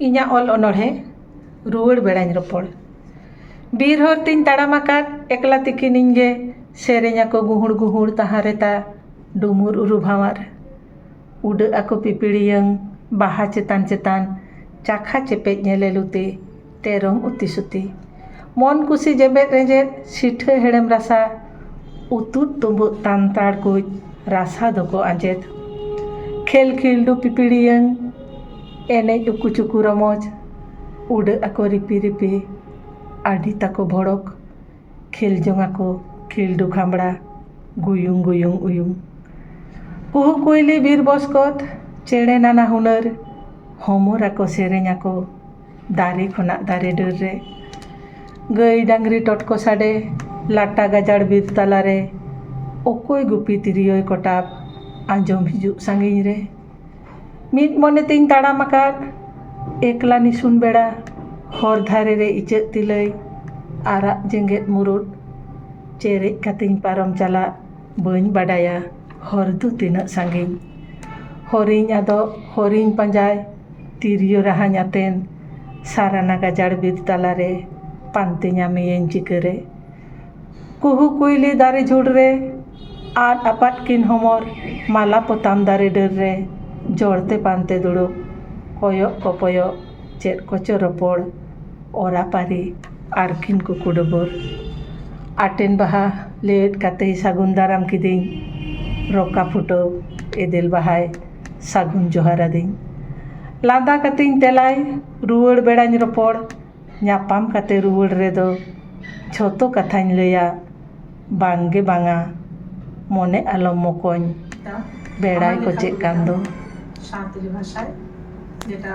ᱤᱧᱟᱹᱜ ᱚᱞ ᱚᱱᱚᱬᱦᱮ ᱨᱩᱣᱟᱹᱲ ᱵᱮᱲᱟᱧ ᱨᱚᱯᱚᱲ ᱵᱤᱨ ᱦᱚᱨ ᱛᱤᱧ ᱛᱟᱲᱟᱢ ᱟᱠᱟᱫ ᱮᱠᱞᱟ ᱛᱤᱠᱤᱱ ᱤᱧ ᱜᱮ ᱥᱮᱨᱮᱧ ᱟᱠᱚ ᱜᱩᱦᱩᱲ ᱜᱩᱦᱩᱲ ᱛᱟᱦᱟᱸ ᱨᱮ ᱛᱟ ᱰᱩᱢᱩᱨ ᱩᱨᱩ ᱵᱷᱟᱶᱟᱨ ᱩᱰᱟᱹᱜ ᱟᱠᱚ ᱯᱤᱯᱤᱲᱤᱭᱟᱹᱝ ᱵᱟᱦᱟ ᱪᱮᱛᱟᱱ ᱪᱮᱛᱟᱱ ᱪᱟᱠᱷᱟ ᱪᱮᱯᱮᱡ ᱧᱮᱞᱮᱞᱩ ᱛᱮ ᱛᱮᱨᱚᱝ ᱩᱛᱤ ᱥᱩᱛᱤ ᱢᱚᱱ ᱠᱩᱥᱤ ᱡᱮᱵᱮᱫ ᱨᱮᱸᱡᱮᱫ ᱥᱤᱴᱷᱟᱹ ᱦᱮᱲᱮᱢ ᱨᱟᱥᱟ ᱩᱛᱩᱫ ᱛᱩᱢᱵᱩᱫ ᱛᱟᱱᱛᱟᱲ ᱠᱩᱡ ᱨᱟᱥᱟ ᱫᱚᱠᱚ ᱟᱸᱡᱮᱫ ᱠᱷᱮᱞ ᱠᱷᱤᱞᱰᱩ ᱯᱤᱯᱤᱲᱤᱭᱟᱹᱝ ᱮᱱᱮᱡ ᱩᱠᱩ ᱪᱩᱠᱩ ᱨᱚᱢᱚᱡᱽ ᱩᱰᱟᱹᱜ ᱟᱠᱚ ᱨᱤᱯᱤ ᱨᱤᱯᱤ ᱟᱹᱰᱤ ᱛᱟᱠᱚ ᱵᱷᱚᱲᱚᱠ ᱠᱷᱮᱞ ᱡᱚᱝ ᱟᱠᱚ ᱠᱷᱤᱞᱰᱩ ᱠᱷᱟᱢᱲᱟ ᱜᱩᱭᱩᱝ ᱜᱩᱭᱩᱝ ᱩᱭᱩᱝ ᱠᱩᱦᱩ ᱠᱩᱭᱞᱤ ᱵᱤᱨ ᱵᱚᱥᱠᱚᱛ ᱪᱮᱬᱮ ᱱᱟᱱᱟ ᱦᱩᱱᱟᱹᱨ ᱦᱚᱢᱚᱨ ᱟᱠᱚ ᱥᱮᱨᱮᱧ ᱟᱠᱚ ᱫᱟᱨᱮ ᱠᱷᱚᱱᱟᱜ ᱫᱟᱨᱮ ᱰᱟᱹᱨ ᱨᱮ ᱜᱟᱹᱭ ᱰᱟᱝᱨᱤ ᱴᱚᱴᱠᱚ ᱥᱟᱰᱮ ᱞᱟᱴᱟ ᱜᱟᱡᱟᱲ ᱵᱤᱨ ᱛᱟᱞᱟᱨᱮ ᱚᱠᱚᱭ ᱜᱩᱯᱤ ᱛᱤᱨᱭᱳᱭ ᱠᱚᱴᱟᱵ ᱟᱸᱡᱚᱢ ᱦᱤᱡᱩᱜ ᱥᱟᱺᱜᱤᱧ ᱨᱮ ᱢᱤᱫ ᱢᱚᱱᱮ ᱛᱤᱧ ᱛᱟᱲᱟᱢ ᱟᱠᱟᱫ ᱮᱠᱞᱟ ᱱᱤᱥᱩᱱ ᱵᱮᱲᱟ ᱦᱚᱨ ᱫᱷᱟᱨᱮ ᱨᱮ ᱤᱪᱟᱹᱜ ᱛᱤᱞᱟᱹᱭ ᱟᱨᱟᱜ ᱡᱮᱜᱮᱫ ᱢᱩᱨᱩᱫ ᱪᱮᱨᱮᱡ ᱠᱟᱛᱮᱧ ᱯᱟᱨᱚᱢ ᱪᱟᱞᱟᱜ ᱵᱟᱹᱧ ᱵᱟᱰᱟᱭᱟ ᱦᱚᱨ ᱫᱚ ᱛᱤᱱᱟᱹᱜ ᱥᱟᱺᱜᱤᱧ ᱦᱚᱨᱤᱧ ᱟᱫᱚᱜ ᱦᱚᱨᱤᱧ ᱯᱟᱸᱡᱟᱭ ᱛᱤᱨᱭᱳ ᱨᱟᱦᱟᱧ ᱟᱛᱮᱱ ᱥᱟᱨᱱᱟ ᱜᱟᱡᱟᱲ ᱵᱤᱨ ᱛᱟᱞᱟᱨᱮ ᱯᱟᱱᱛᱮ ᱧᱟᱢᱮᱭᱟᱹᱧ ᱪᱤᱠᱟᱹᱨᱮ ᱠᱩᱦᱩ ᱠᱩᱭᱞᱤ ᱫᱟᱨᱮ ᱡᱷᱩᱲ ᱨᱮ ᱟᱫ ᱟᱯᱟᱫ ᱠᱤᱱ ᱦᱚᱢᱚᱨ ᱢᱟᱞᱟ ᱯᱚᱛᱟᱢ ᱫᱟᱨᱮ ᱰᱟᱹᱨ ᱨᱮ ᱡᱚᱲ ᱛᱮ ᱯᱟᱱᱛᱮ ᱫᱩᱲᱩᱵ ᱠᱚᱭᱚᱜ ᱠᱚᱯᱚᱭᱚᱜ ᱪᱮᱫ ᱠᱚᱪᱚ ᱨᱚᱯᱚᱲ ᱚᱨᱟ ᱯᱟᱹᱨᱤ ᱟᱨᱠᱤᱱ ᱠᱩᱠᱩ ᱰᱩᱵᱩᱨ ᱟᱴᱮᱱ ᱵᱟᱦᱟ ᱞᱮᱣᱮᱫ ᱠᱟᱛᱮᱭ ᱥᱟᱹᱜᱩᱱ ᱫᱟᱨᱟᱢ ᱠᱤᱫᱤᱧ ᱨᱚᱠᱟ ᱯᱷᱩᱴᱟᱹᱣ ᱮᱫᱮᱞ ᱵᱟᱦᱟᱭ ᱥᱟᱹᱜᱩᱱ ᱡᱚᱦᱟᱨ ᱟᱹᱫᱤᱧ ᱞᱟᱸᱫᱟ ᱠᱟᱛᱮᱧ ᱛᱮᱞᱟᱭ ᱨᱩᱣᱟᱹᱲ ᱵᱮᱲᱟᱧ ᱨᱚᱯᱚᱲ ᱧᱟᱯᱟᱢ ᱠᱟᱛᱮ ᱨᱩᱣᱟᱹᱲ ᱨᱮᱫᱚ ᱡᱷᱚᱛᱚ ᱠᱟᱛᱷᱟᱧ ᱞᱟᱹᱭᱟ ᱵᱟᱝᱜᱮ ᱵᱟᱝᱟ ᱢᱚᱱᱮ ᱟᱞᱚᱢ ᱢᱚᱠᱚᱧ ᱵᱮᱲᱟᱭ ᱠᱚᱪᱮᱜ ᱠᱟᱱ ᱫᱚ ᱥᱟᱱᱛᱟᱲᱤ ᱵᱷᱟᱥᱟᱭ ᱡᱮᱴᱟ